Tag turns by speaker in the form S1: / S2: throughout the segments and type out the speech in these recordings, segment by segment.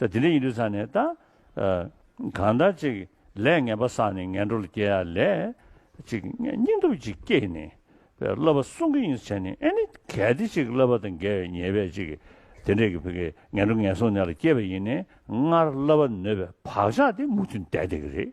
S1: ས་དེ་འདྲ་ཡིན་དུས་ཚང་ནས་ད། གང་ལྟར་ཅིག་ལས་ངན་པ་བསགས་ནས་ངན་འགྲོ་ལ་སྐྱེ་ཡ་ལས། ཅིག་སྙིང་སྟོབས་ཅིག་སྐྱེས་ནས། བསླབ་པ་སྲུང་གི་ཡིན་ས་བྱས་ནས་ཨེ་ནི་གལ་ཏེ་ཅིག་བསླབ་པ་དང་འགལ་བའི་ཉེས་པས་ཅིག་དེ་འདྲས་ཀྱི་བུ་གའི་ངན་འགྲོ་ངན་སོང་ནད་ལ་སྐྱེས་པ་ཡིན་ནས་སྔར་བསླབ་པ་ནོད་པའི་བག་ཆགས་དེ་མུ་མཐུད་འདས་བསྡད་ཀྱི་རེད།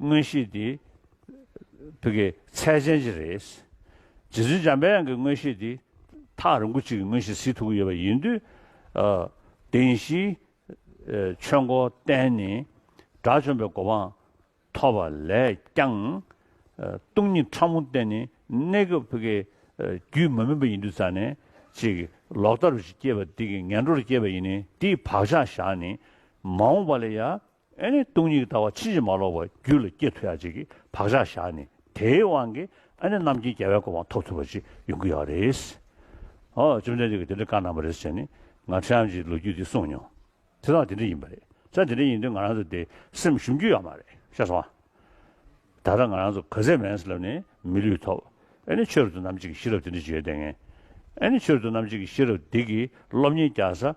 S1: དངོས་གཞི་འདི་བོད་ཀྱི་ཚད་ཅན་ཅིག་རེད། རྗེ་བཙུན་འཇམ་དཔལ་དབྱངས་ཀྱི་དངོས་གཞི་འདི་ཐག་རིང་པོ་ཅིག་གི་དངོས་གཞི་གཟིགས་ཐུབ་ཀྱི་ཡོད་པ་ཡིན་དུས། བདེན་བཞིའི་ཆོས་འཁོར་བསྟན་ནས་དགྲ་བཅོམ་པའི་གོ་འཕང་ཐོབ་པ་ལས་ཀྱང། སྟོང་ཉིད་ཕྲ་མོ་བསྟན་ནས་གནས་སྐབས་བོད་ཀྱི་རྒྱུད་མ་མིན་པ་ཡིན་དུས་རྩ་ནས་ཅིག་ལོག་ལྟ་རུ་སྐྱེས་པ་འདི་ཀྱི་ངན་འགྲོར་སྐྱེས་པ་ཡིན་ནས་དེའི་བག་ཆགས་བཞག་ནས་མ་འོངས་པ་ལ་ཡང་ཨེ་ནི་སྟོང་ཉིད་ལྟ་བ་ཕྱིན་ཅི་མ་ལོག་པ་རྒྱུད་ལ་སྐྱེ་ཐུབ་ཡག་ཅིག་གི་བག་ཆགས་བཞག་ནས་དེའི་དབང་གིས་ཨེ་ནི་རྣམ་མཁྱེན་རྒྱལ་བའི་སྐུ་འང་ཐོབ་ཐུབ་པ་ཅིག་ཡོང་གི་ཡོད་རེད། ཨོ་བཅོམ་ལྡན་འདས་ཀྱིས་དེ་འདྲ་བཀའ་གནང་བ་རེད་ཟེར་ནས་ང་ཁྲི་འམ་ཅིའི་ལོ་རྒྱུས་དེ་གསུངས་མྱོང། དེ་དག་དེ་འདྲ་ཡིན་པ་རེད་ས་དེ་འདྲ་ཡིན་དུས་ང་རང་ཚོ་དེ་སེམས་ཞུམ་རྒྱུ་ཡོད་མ་རེད་ཤ་ཟ་བ། ད་ལྟ་ང་རང་ཚོ་ག་ཚད་མེད་ས་ལབ་ནས་མི་ལུས་ཐོབ་ཨེ་ནི་ཆོས་རབ་ཏུ་རྣམ་གཅིག་གི་ཤེས་རབ་དེ་འདྲ་བརྗོད་ལྡན། ཨེ་ནི་ཆོས་རབ་ཏུ་རྣམ་གཅིག་གི་ཤེས་རབ་འདི་གིས་སློབ་གཉེར་རྒྱག་ས་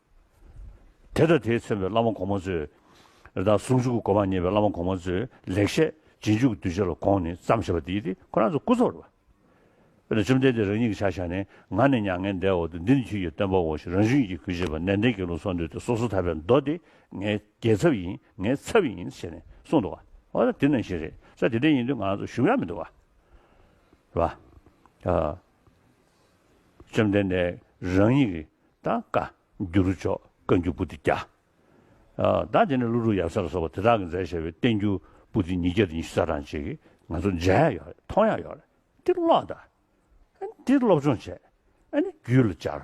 S1: དེ་དང་དེའི་མཚན་པའི་བླ་མ་གོང་མ་ཚོས། རེ་དྭགས་ཟུང་འཇུག་གི་སྒོ་མང་རྙེད་པའི་བླ་མ་གོང་མ་ཚོས་ལེགས་བཤད་རྗེས་འཇུག་གི་གདུལ་བྱ་ལ་དགོངས་ནས་བརྩམས་ཞེས་པ་འདི་ནི་ཁོ་རང་ཚོའི་སྐུ་གཟུགས་རེད་པ། འོན་ཏེ་བཅོམ་ལྡན་འདས་རང་ཉིད་ཀྱི་ཕྱག་བཞག་ནི་ང་ནི་མྱ་ངན་འདས་འོག་ཏུ་འདི་ནི་ཁྱོད་ཀྱི་སྟོན་པའོ་ཞེས་རང་བཞིན་གྱིས་གུས་བྱེད་པ་ནན་ཏན་གྱི་ལུགས་སོགས་འདོད་དེ་སོ་སོ་ཐར་པའི་མདོ་འདི་ངའི་རྒྱལ་ཚབ་ཡིན་ངའི་ཚབ་ཡིན་ཞེས་ནས་གསུངས་འདུག་བ། འོ་ན་དེ་ནང་བཞིན་རེད་ས་དེ་འདྲ་ཡིན་དུས་ང་རང་ཚོ་ཞུམ་ཡག་མི་འདུག་བ། བཅོམ་ལྡན་འདས་རང་ཉིད་ཀྱི་དང་བཀའ་འགྱུར་མཆོག་བཀའ་འགྱུར་པོ་ཏི་བརྒྱ། བདག་དེ་ནས་ཀླུ་སྒྲུབ་ཡབ་སྲས་ལ་སོགས་པ་དེ་དག་གི་མཛད་བྱས་པའི་བསྟན་འགྱུར་པོ་ཏི་ཉིས་བརྒྱ་དང་ཉི་ཤུ་རྩ་གྲངས་ཅིག་ང་ཚོ་མཇལ་ཡ་ཡོད་རེད་མཐོང་ཡ་ཡོད་རེད་འདི་ཀློག་དང། འདི་སློབ་སྦྱོང་བྱས། རྒྱུད་ལ་སྦྱར།